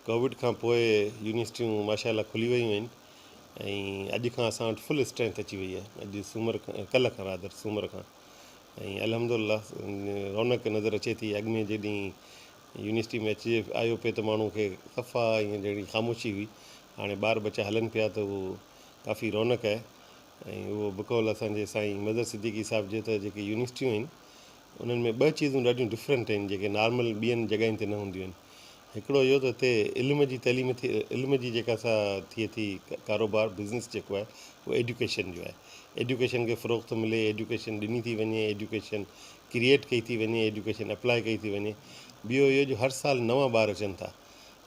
Covid کان پوء يونيورسٽيون ماشا الله کلي ويون آهن ۽ اڄ کان اسان وٽ فل اسٽرينٿ اچي وئي آهي اڄ سومر کان ڪلهه کان رادر سومر کان ۽ الحمد الله رونق نظر اچي ٿي اڳ ۾ جيڏي يونيورسٽي ۾ اچجي آيو پي ته ماڻهو کي صفا ائين جهڙي خاموشي هئي هاڻي ٻار ٻچا هلن پيا ته اهو ڪافي رونق آهي ۽ اهو بقول اسان جي سائين مظهر صديقي صاحب جي ته جيڪي يونيورسٽيون آهن انهن ۾ ٻه چيزون ڏاڍيون ڊفرنٽ آهن جيڪي نارمل ٻين جڳهين تي نه هونديون آهن. هڪڙو اهو ته هتي علم جي تعليم ٿي علم جي جيڪا سا ٿئي ٿي ڪاروبار بزنس جيڪو آهي اهو ايڊيوڪيشن جو آهي ايڊيوڪيشن کي فروغ ٿو ملي ايڊيوڪيشن ڏني ٿي وڃي ايڊيوڪيشن ڪريئيٽ ڪئي ٿي وڃي ايڊيوڪيشن اپلائي ڪئي ٿي وڃي ٻيو اهو جو هر سال نوان ٻار اچن ٿا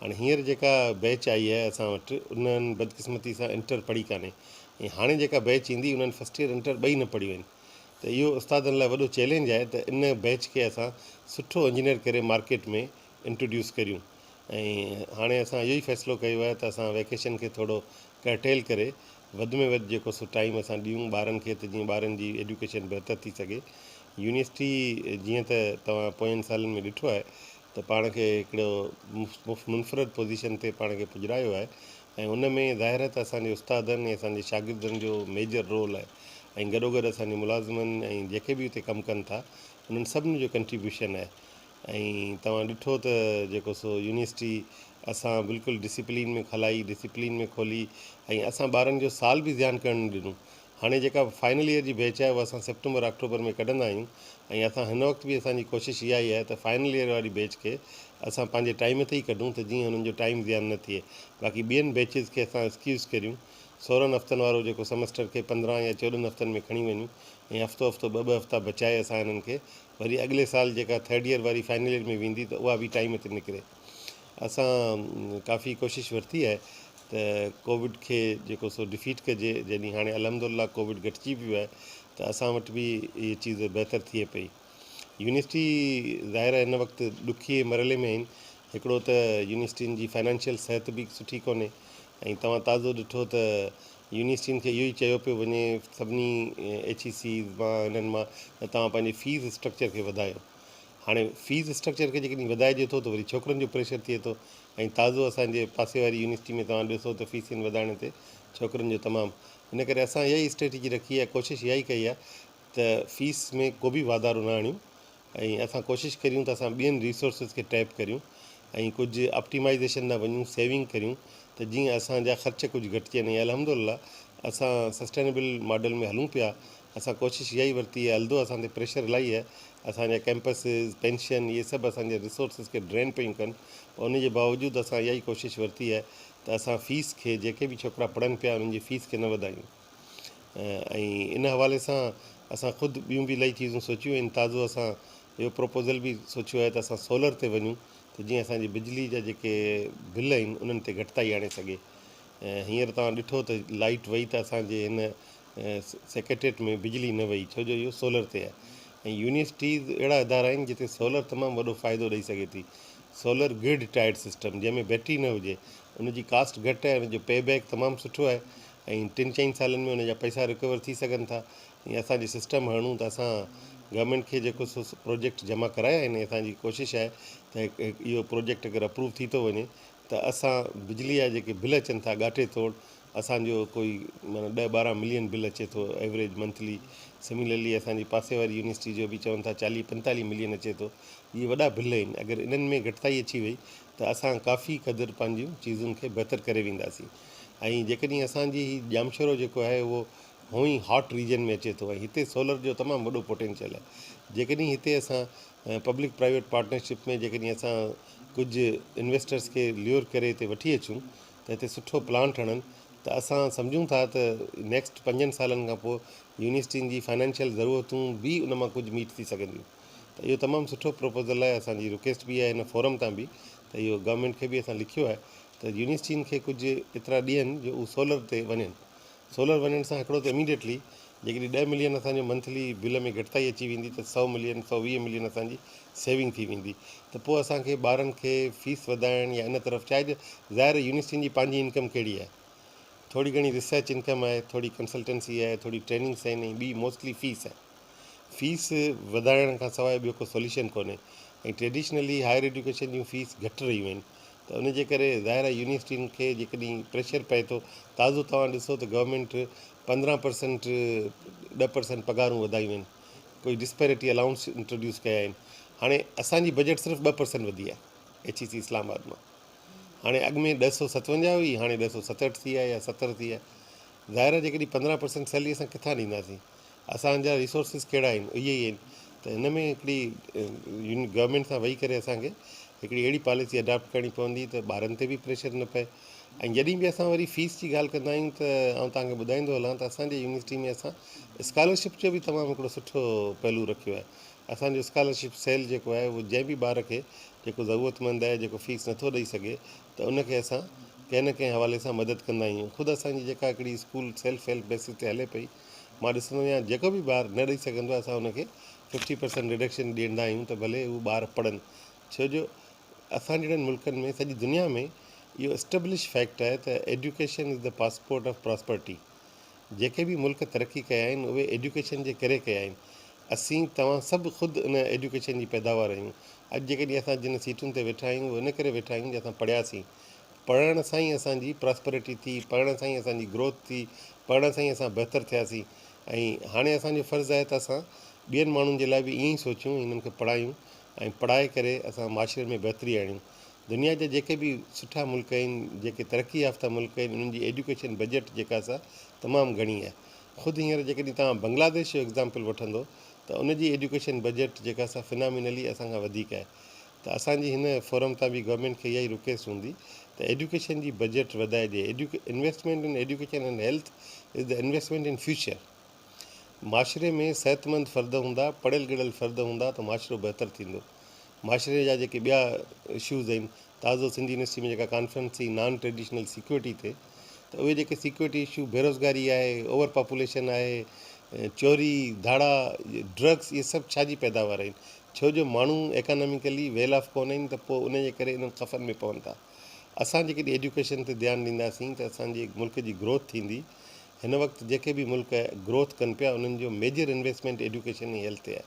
هاڻي هينئر جيڪا بيچ آئي آهي اسان وٽ انهن بدقسمتي سان انٽر پڙهي ڪانهي ۽ هاڻي جيڪا بيچ ايندي انهن فرسٽ ايئر انٽر ٻئي نه پڙهيون آهن ته اهو استادن لاء وڏو چئلينج آهي ته ان بيچ کي اسان سٺو انجنيئر ڪري مارڪيٽ ۾ انٽروڊيوس ڪريون ۽ هاڻي اسان اهو ئي فيصلو ڪيو آهي ته اسان ويڪيشن کي ٿورو ڪرٽيل ڪري وڌ ۾ وڌ جيڪو سو ٽائيم اسان ڏيون ٻارن کي ته جيئن ٻارن جي ايڊيوڪيشن بهتر ٿي سگهي يونيورسٽي جيئن ته توهان پوين سالن ۾ ڏٺو آهي ته پاڻ کي هڪڙو منفرد پوزيشن تي پاڻ کي پڄرايو آهي ۽ ان ۾ ظاهر آهي ته اسان جي استادن ۽ اسان جي شاگردن جو ميجر رول آهي ۽ گڏوگڏ اسان جي ملازمن ۽ جيڪي به اتي ڪم ڪن ٿا انهن سڀني جو ڪنٽريبيوشن آهي ۽ توهان ڏٺو ته جيڪو سو يونيورسٽي اسان بلڪل ڊسيپلين ۾ کلائي ڊسيپلين ۾ کولي ۽ اسان ٻارن جو سال به ضيان ڪرڻ نه ڏنو هاڻي جيڪا فائنل ايئر جي بيچ آهي اها اسان سيپٽمبر آڪٽوبر ۾ ڪڍندا آهيون ۽ اسان هن وقت به اسان جي ڪوشش اها ئي آهي ته فائنل ايئر واري بيچ کي اسان پنهنجي ٽائيم تي ئي ڪڍون ته جيئن انهن جو ٽائيم ضيان نه ٿئي باقي ٻين بيچز کي اسان اسڪيوز ڪريون سورهن هفتن وارو جيڪو سمسٽر کي پندرهن يا چوڏهن هفتن ۾ کڻي وڃون ۽ هفتو هفتو ٻه ٻه هفتا بچائي اسان انهن کي وري اڳلي سال جيڪا ٿرڊ ايئر واري فائنل ايئر ۾ ويندي ته اها به ٽائيم تي نڪري. اسان ڪافي ڪوشش ورتي آهي ته ڪووڊ کي جيڪو سو ڊفيٽ ڪجي جڏهن هاڻي الحمد الله ڪووڊ گهٽجي ويو آهي ته اسان وٽ به هي چيز بهتر ٿئي پئي يونيورسٽي ظاهر آهي هن وقت ڏکئي مرحلي ۾ آهن هڪڙو ته يونيورسٽين جي فنانشل صحت به سٺي ڪونهي ۽ توهان تازو ڏٺو ته يونيورسٽين کي اهو ئي چيو پيو وڃي سڀني ايڇ اي سيز مان هنن مان ته توهان پنهنجي فيس اسٽرڪچر کي وڌايو هاڻي فيس اسٽرڪچر کي جيڪڏهن وڌائجي ٿو ته وري ڇوڪرن جو پريشر ٿئي ٿو ۽ تازو اسان جي پاسي واري يونيورسٽي ۾ توهان ڏسو ته فيسين وڌائڻ تي ڇوڪرين جو تمام ان ڪري اسان اها ئي اسٽريٽجي رکي آهي ڪوشش اها ئي ڪئي آهي ته فيس ۾ ڪو به واڌارو نه آڻيون ۽ اسان ڪوشش ڪريون ته اسان ٻين ريسورسز کي ٽيپ ڪريون ۽ ڪجهه آپٽيمائيزيشن ڏانهن وڃون سيونگ ڪريون ته جيئن اسان جا خرچ ڪجهه گهٽجن ۽ الحمد لله اسان سسٽينيبل ماڊل ۾ هلون پيا اسان ڪوشش اها ئي ورتي آهي الدو اسان تي پريشر الائي آهي اسان جا ڪيمپسز پينشن اهي سڀ اسان جي ريسورسز کي ڊرين پيون ڪن ان جي باوجود اسان اها ئي ڪوشش ورتي آهي ته اسان فيس کي جيڪي به ڇوڪرا پڙهن پيا انهن جي فيس کي نه وڌايون ۽ ان حوالي سان اسان خود ٻيون به الائي چيزون سوچيون آهن تازو اسان اهو پروپوزل به سوچيو آهي ته اسان سولر تي وڃون ته جيئن اسان جي بجلي جا جيڪي بل آهن انهن تي گهٽتائي آڻي سگهي هينئر توهان ڏٺو ته لائيٽ وئي ته اسان جي هن سيڪريٽريٽ ۾ بجلي نه وئي ڇو جو اهو سولر تي آهي ۽ يونيورسٽيز اهڙا ادارا آهن جتي سولر تمام وڏو فائدو ڏئي سگهي ٿي سولر گرڊ ٽائيڊ سسٽم جنهن ۾ بيٽري نه هجي ان جي ڪاسٽ گهٽ آهي ان جو پي بيڪ تمام سٺو آهي ۽ ٽن چئن سالن ۾ ان جا پئسا رڪور ٿي سگهن ٿا ۽ اسان جي سسٽم هڻون ته اسان گورنمينٽ کي جيڪو سو پروجيڪٽ جمع ڪرايا آهن اسان جي ڪوشش آهي ته اهو پروجيڪٽ اگر اپروو ٿي ٿو وڃي ته اسان بجلي جا جيڪي بل اچن ٿا ڳاٽي توڙ اسان جو ڪوئي معنيٰ ڏهه ٻارهن ملين بل اچي ٿو ايوريج منٿلي سميلرلي اسان جي پاسي واري يونيورسٽي جو به چون ٿا چاليهه پنتاليهه ملين اچي ٿو اهي وڏا بل آهن اگر انهن ۾ گهٽتائي اچي وئي ته اسان ڪافي قدر پنهنجيون چيزن کي بهتر ڪري وينداسين ۽ جيڪڏهن اسان جي هي ڄامشورو جيڪو آهي اهو هونئن هاٽ ريجن ۾ اچي ٿو ۽ هتي سولر جو تمام وڏو پوٽينشل آهي جيڪڏهن هتي اسان ۽ پبلڪ پرائيويٽ پارٽنرشپ ۾ جيڪڏهن اسان ڪجهه انويسٽرس کي ليور ڪري هتي وٺي اچون ته هتي سٺو پلان ٺڻن ته اسان سمجهون ٿا ته نيڪسٽ پنجن سالن کان پوء يونيورسٽين جي فنانشل ضرورتون به ان مان ڪجهه ميٽ ٿي سگهنديون ته اهو تمام سٺو پروپوزل آهي اسان جي رڪيسٽ به آهي هن فورم تان به ته اهو گورنمينٽ کي به اسان لکيو آهي ته يونيورسٽين کي ڪجهه ايترا ڏين جو هو سولر تي وڃن سولر وڃڻ سان هڪڙو ته اميڊيٽلي جيڪڏهن ڏهه ملين اسان جي منٿلي بل ۾ گهٽتائي اچي ويندي ته سؤ ملين سؤ ويهه ملين اسان جي سيونگ ٿي ويندي ته پوء اسان کي ٻارن کي فيس وڌائڻ يا ان طرف چاهي ظاهر آهي يونيورسٽين جي پنهنجي انڪم ڪهڙي آهي ٿوري گهڻي ريسرچ انڪم آهي ٿوري ڪنسلٽنسي آهي ٿوري ٽريننگس آهن ۽ ٻي موسٽلي فيس آهي فيس وڌائڻ کان سواء ٻيو ڪو سوليوشن ڪونهي ۽ ٽريڊيشنلي هائر ايڊيوڪيشن جون فيس گهٽ رهيون آهن ته ان جي ڪري ظاهر آهي يونيورسٽين کي جيڪڏهن پريشر پئي ٿو تازو توهان ڏسو ته گورنمينٽ پندرهن پرسنٽ ڏهه پرسنٽ پگهارون وڌايون آهن ڪجهه ڊسپيرٽي الائونس انٽروڊيوس ڪيا آهن هاڻي اسان جي بجيٽ صرف ٻه پرسنٽ وڌي آهي ايڇ اي سي اسلام آباد مان هاڻي اڳ ۾ ڏهه سؤ ستونجاهه هئي هاڻي ڏهه سؤ ستهٺ ٿي آهي يا ستر ٿي آهي ظاهر آهي جيڪڏهن پندرهن پرسنٽ سيلري اسان ڪٿان ڏينداسين اسان جا ريسورسز ڪهڙا آهن اهي ئي آهن ته هن ۾ هڪڙي گورمينٽ سان ويهي ڪري اسان کي هڪڙي اهڙي پاليسي اڊاپٽ ڪرڻي پوندي ته ٻارن تي به پريشر نه پئي ۽ جڏهن به اسان وري فيس جي ڳالهه ڪندا آهيون ته آئون توهان کي ٻڌائيندو هلان ته اسان جي يونيورسٽي ۾ اسان اسڪالرشپ جو به تمام هڪڙو سٺو پهلو رکيو آهي اسان جو اسڪالرشپ سيل جيڪو آهي اهو جنهن به ٻار کي جيڪو ضرورت مند آهي جيڪو فيس نٿو ڏئي سگهي ته ان کي اسان ڪنهن نه ڪنهن حوالي سان مدد ڪندا آهيون خود اسان جي جيڪا هڪڙي اسڪول سيلف هيلپ بيسز تي هلي پئي مان ڏسندو آهيان جيڪو به ٻار نه ڏئي سگهندو آهي اسان ان کي ففٽي پرسنٽ رڊڪشن ڏيندا آهيون ته ڀلي هو ٻار پڙهن ڇو جو اسان جهڙن ملڪن ۾ سڄي دنيا ۾ اهو اسٽبلش فيڪٽ آهي ته education is the passport of prosperity جيڪي به ملڪ ترقي ڪيا آهن اهي ايڊيوڪيشن جي ڪري ڪيا آهن اسين توهان سڀ خود ان ايڊيوڪيشن جي پيداوار آهيون اڄ جيڪڏهن اسان جن سيٽن تي ويٺا آهيون اهو ان ڪري ويٺا آهيون جو اسان پڙهياسين پڙهڻ سان ئي اسان جي پراسپرٽي ٿي، پڙهڻ سان ئي اسان جي گروٿ ٿي، پڙهڻ سان ئي اسان بهتر ٿياسين ۽ هاڻي اسان جو فرض آهي ته اسان ٻين ماڻهن جي لاء به ائين ئي سوچيون، هنن کي پڙهايون ۽ پڙهائي ڪري اسان معاشري ۾ بهتري آڻيون. دنيا جا جيڪي به سٺا ملڪ آهن، جيڪي ترقي يافته ملڪ آهن، انهن جي ايڊيوڪيشن بجيٽ جيڪا سا تمام گهڻي آهي. خود هينئر جيڪڏهن توهان بنگلاديش جو ايگزامپل وٺندو ته ان جي ايڊيوڪيشن بجيٽ جيڪا سا فنامينلي اسان کان وڌيڪ آهي. ته اسان جي هن فورم تان به گورنمينٽ کي اها ئي رڪويسٽ هوندي ته ايڊيوڪيشن جي بجيٽ وڌائي ڏئي investment in education and health is the investment in future معاشري ۾ صحتمند فرد هوندا پڙهيل ڳڙهيل فرد هوندا ته معاشرو بهتر ٿيندو معاشري جا جيڪي ٻيا اشوز آهن تازو سنڌ يونيورسٽي ۾ جيڪا ڪانفرنس ٿي نان ٽريڊيشنل سيڪيورٽي تي ته اهي جيڪي سيڪيورٽي اشو بيروزگاري آهي اوور پاپوليشن آهي چوري ڌاڙا ڊرگس اهي سڀ ڇا جي پيداوار آهن ڇو جو ماڻهو ايڪاناميڪلي ويل آف ڪونهن ته پوء ان جي ڪري انهن خفن ۾ پون ٿا. اسان جيڪڏهن ايڊيوڪيشن تي ڌيان ڏينداسين ته اسان جي ملڪ جي گروٿ ٿيندي. هن وقت جيڪي به ملڪ گروٿ ڪن پيا انهن جو ميجر انويسٽمينٽ ايڊيوڪيشن ۽ هيلٿ تي آهي.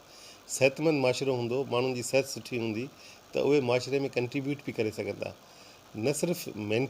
صحتمند معاشرو هوندو، ماڻهن جي صحت سٺي هوندي ته اهي معاشري ۾ ڪنٽريبيوٽ به ڪري سگهندا نه صرف مين.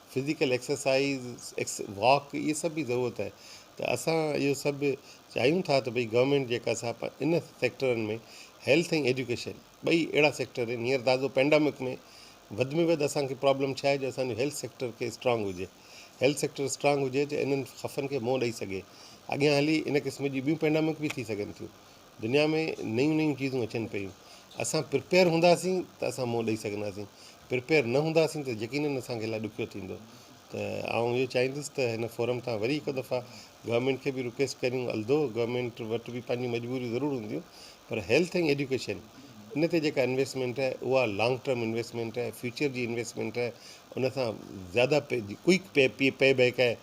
فزيڪل ايڪسرسائيز، ايڪس واڪ اهي سڀ به ضرورت آهي ته اسان اهو سڀ به چاهيون ٿا ته ڀئي گورنمينٽ جيڪا سا ان سيڪٽرن ۾ هيلٿ ۽ ايجوڪيشن ٻئي اهڙا سيڪٽر آهن هينئر تازو پينڊامڪ ۾ وڌ ۾ وڌ اسان کي پرابلم ڇا آهي جو اسان جو هيلٿ سيڪٽر کي اسٽرانگ هجي هيلٿ سيڪٽر اسٽرانگ هجي ته انهن خفن کي منهن ڏئي سگهي اڳيان هلي ان قسم جي ٻيون پينڊامڪ به ٿي سگهن ٿيون دنيا ۾ نيون نيون چيزون اچن پيون اسان پرپيئر هونداسين ته اسان منهن ڏئي سگهنداسين پرپيئر نه هونداسين ته يقينن اسان کي لاء ڏکيو ٿيندو ته آئون اهو چاهيندس ته هن فورم تان وري هڪ دفعا گورنمنٽ کي به رڪويسٽ ڪريون الدو گورنمنٽ وٽ به پنهنجون مجبوريون ضرور هونديون پر هيلٿ ۽ ايڊيوڪيشن ان تي جيڪا انويسٽمينٽ آهي اها لانگ ٽرم انويسٽمينٽ آهي فيوچر جي انويسٽمينٽ آهي ان سان زياده pay quick pay pay pay back آهي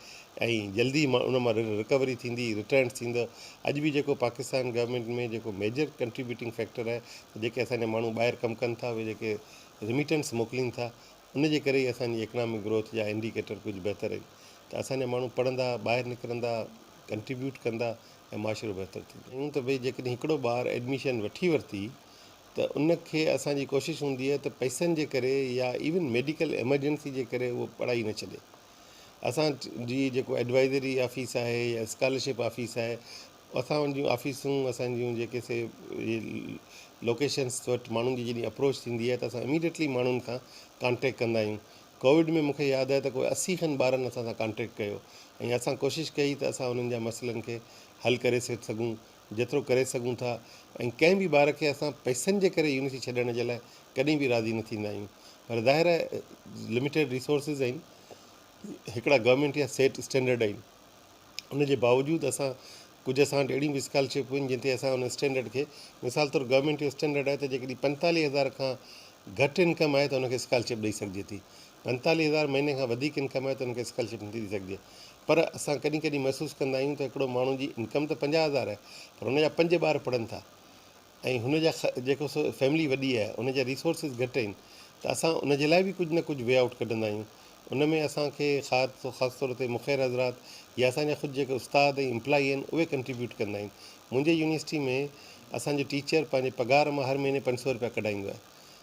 ۽ جلدي ان مان رڪوري ٿيندي رٽرنس ٿيندو اڄ به جيڪو پاڪستان گورمينٽ ۾ جيڪو ميجر ڪنٽريبيوٽنگ فيڪٽر آهي ته جيڪي اسان جا ماڻهو ٻاهر ڪم ڪن ٿا اهي جيڪي رميٽنس موڪلين ٿا ان جي ڪري ئي اسان جي اڪنامڪ گروٿ جا انڊيڪيٽر ڪجهه بهتر آهن ته اسان جا ماڻهو پڙهندا ٻاهر نڪرندا ڪنٽريبيوٽ ڪندا ۽ معاشرو بهتر ٿيندو. چيون ته ڀئي جيڪڏهن هڪڙو ٻار ايڊميشن وٺي ورتي ته ان کي اسان جي ڪوشش هوندي آهي ته پئسن جي ڪري يا ايون ميڊيڪل ايمرجنسي جي ڪري اهو پڙهائي نه ڇڏي. اسان جي جيڪو ايڊوائزري آفيس آهي يا اسڪالرشپ آفيس آهي اسان ان جون آفيسون اسان جون جيڪي سي لوڪيشنس وٽ ماڻهن جي جڏهن اپروچ ٿيندي آهي ته اسان اميڊيٽلي ماڻهن کان ڪانٽيڪ ڪندا آهيون ڪووڊ ۾ مون کي ياد آهي ته ڪوئي اسي کن ٻارن اسان سان ڪانٽيڪ ڪيو ۽ اسان ڪوشش ڪئي ته اسان انهن جا مسئلن کي حل ڪري سگهون جيترو ڪري سگهون ٿا ۽ ڪنهن به ٻار کي اسان پئسن جي ڪري يونيورسٽي ڇڏڻ جي لاء ڪڏهن به راضي نه ٿيندا آهيون پر ظاهر آهي لميٽيڊ ريسورسز آهن هڪڙا گورنمينٽ يا سيٽ اسٽينڊرڊ آهن ان جي باوجود اسان ڪجهه اسان وٽ اهڙيون به اسڪالرشپ آهن جن تي اسان ان اسٽينڊرڊ کي مثال طور گورنمينٽ جو اسٽينڊرڊ آهي ته جيڪڏهن پنجتاليهه هزار کان گهٽ انڪم آهي ته ان کي اسڪالرشپ ڏئي سگهجي ٿي پنجتاليهه هزار مهيني کان وڌيڪ انڪم آهي ته ان کي اسڪالرشپ نٿي ڏئي سگهجي پر اسان ڪڏهن ڪڏهن محسوس ڪندا آهيون ته هڪڙو ماڻهو جي انڪم ته پنجاهه هزار آهي پر هن جا پنج ٻار پڙهن ٿا ۽ هن جا جيڪو سو فيملي وڏي آهي ان جا ريسورسز گهٽ آهن ته اسان ان جي لاء به ڪجهه نه ڪجهه وي آئوٽ ڪڍندا آهيون ان ۾ اسان کي خاص طور تي مخير حضرات يا اسان جا خود جيڪي استاد ۽ امپلائي آهن اهي ڪنٽريبيوٽ ڪندا آهن منهنجي يونيورسٽي ۾ اسان جو ٽيچر پنهنجي پگهار مان هر مهيني پنج سؤ روپيا ڪڍائيندو آهي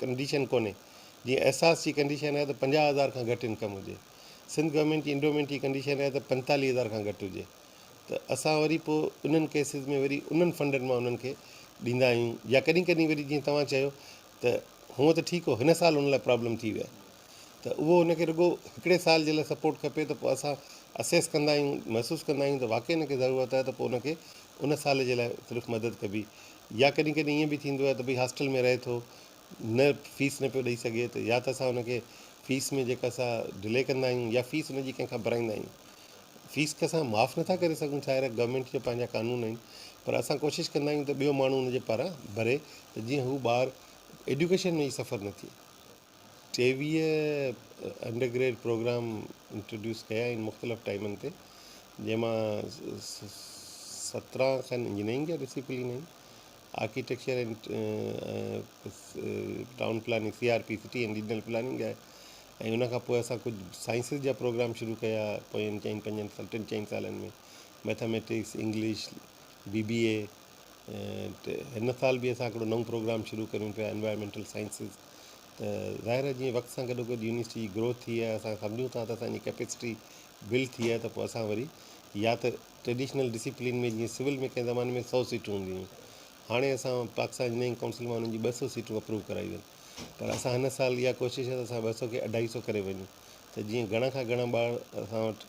ڪنڊيشن ڪونهي جيئن احساس جي ڪنڊيشن آهي ته پنجاهه هزار کان گهٽ انڪم هجي سنڌ گورنمينٽ جي انڊومينٽ جي ڪنڊيشن آهي ته پنجتاليهه هزار کان گهٽ هجي ته اسان وري پوء انهن ڪيسز ۾ وري انهن فنڊن مان انهن کي ڏيندا آهيون يا ڪڏهن ڪڏهن وري جيئن توهان چيو ته هونء ته ٺيڪ هو هن سال ان لاء پرابلم ٿي ويا ته اهو ان کي رڳو هڪڙي سال جي لاء سپورٽ کپي ته پوء اسان اسيس ڪندا آهيون محسوس ڪندا آهيون ته واقعي ان کي ضرورت آهي ته پوء ان کي ان سال جي لاء صرف مدد ڪبي يا ڪڏهن ڪڏهن ائين به ٿيندو آهي ته ڀئي هاسٽل ۾ رهي ٿو نه فيس نه پيو ڏئي سگهي ته يا ته اسان ان کي فيس ۾ جيڪا سا ڊلي ڪندا آهيون يا فيس ان جي ڪنهن کان ڀرائيندا آهيون فيس ته اسان معاف نٿا ڪري سگهون ڇا هيء گورنمينٽ جا پنهنجا قانون آهن پر اسان ڪوشش ڪندا آهيون ته ٻيو ماڻهو ان جي پاران ڀري ته جيئن هو ٻار ايڊيوڪيشن ۾ ئي سفر نه ٿئي ٽيويهه انڊر گريڊ پروگرام انٽروڊيوس ڪيا آهن مختلف ٽائمن تي جنهن مان سترهن کن انجنيئرنگ جا ڊسپلين آهن architecture town planning C R P city and regional planning جا ۽ ان کان پوء اسان ڪجهه سائنسز جا پروگرام شروع ڪيا پوين چئن پنجن ٽن چئن سالن ۾ mathematics English B B A هن سال به اسان هڪڙو نئون پروگرام شروع ڪريون پيا Environmental Sciences ته ظاهر آهي جيئن وقت سان گڏو گڏ يونيورسٽي جي گروٿ ٿي آهي اسان سمجهون ٿا ته اسان جي ڪيپيسٽي بلڊ ٿي آهي ته پوء اسان وري يا ته ٽريڊيشنل ڊسيپلين ۾ جيئن سول ۾ ڪنهن زماني ۾ سؤ سيٽون هونديون هيون هاڻي اسان پاڪستان انجنيئرنگ ڪائونسل مان انهن جون ٻه سؤ سيٽون اپروو ڪرايون آهن پر اسان هن سال اها ڪوشش آهي ته اسان ٻه سؤ کي اڍائي سؤ ڪري وڃون ته جيئن گهڻا کان گهڻا ٻار اسان وٽ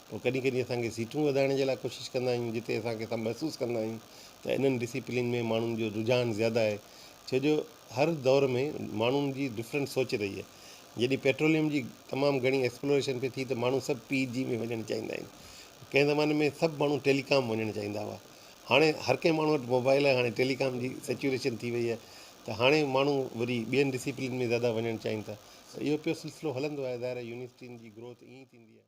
پوء ڪڏهن ڪڏهن اسان کي سيٽون وڌائڻ جي لاء ڪوشش ڪندا آهيون جتي اسان کي اسان محسوس ڪندا آهيون ته انهن ڊسيپلين ۾ ماڻهن جو رجحان زياده آهي ڇو جو هر دور ۾ ماڻهن جي ڊفرنٽ سوچ رهي آهي جڏهن پيٽروليم جي تمام گهڻي ايڪسپلوريشن پئي ٿي ته ماڻهو سڀ پي جي ۾ وڃڻ چاهيندا آهن ڪنهن زماني ۾ سڀ ماڻهو ٽيلي ڪام وڃڻ چاهيندا هئا هاڻي هر ڪنهن ماڻهو وٽ موبائل آهي هاڻي ٽيلي ڪام جي سيچوريشن ٿي وئي آهي ته هاڻي ماڻهو وري ٻين ڊسيپلين ۾ زياده وڃڻ چاهين ٿا ته اهو پيو سلسلو هلندو آهي ظاهر آهي يونيورسٽين جي گروٿ ائين ٿيندي آهي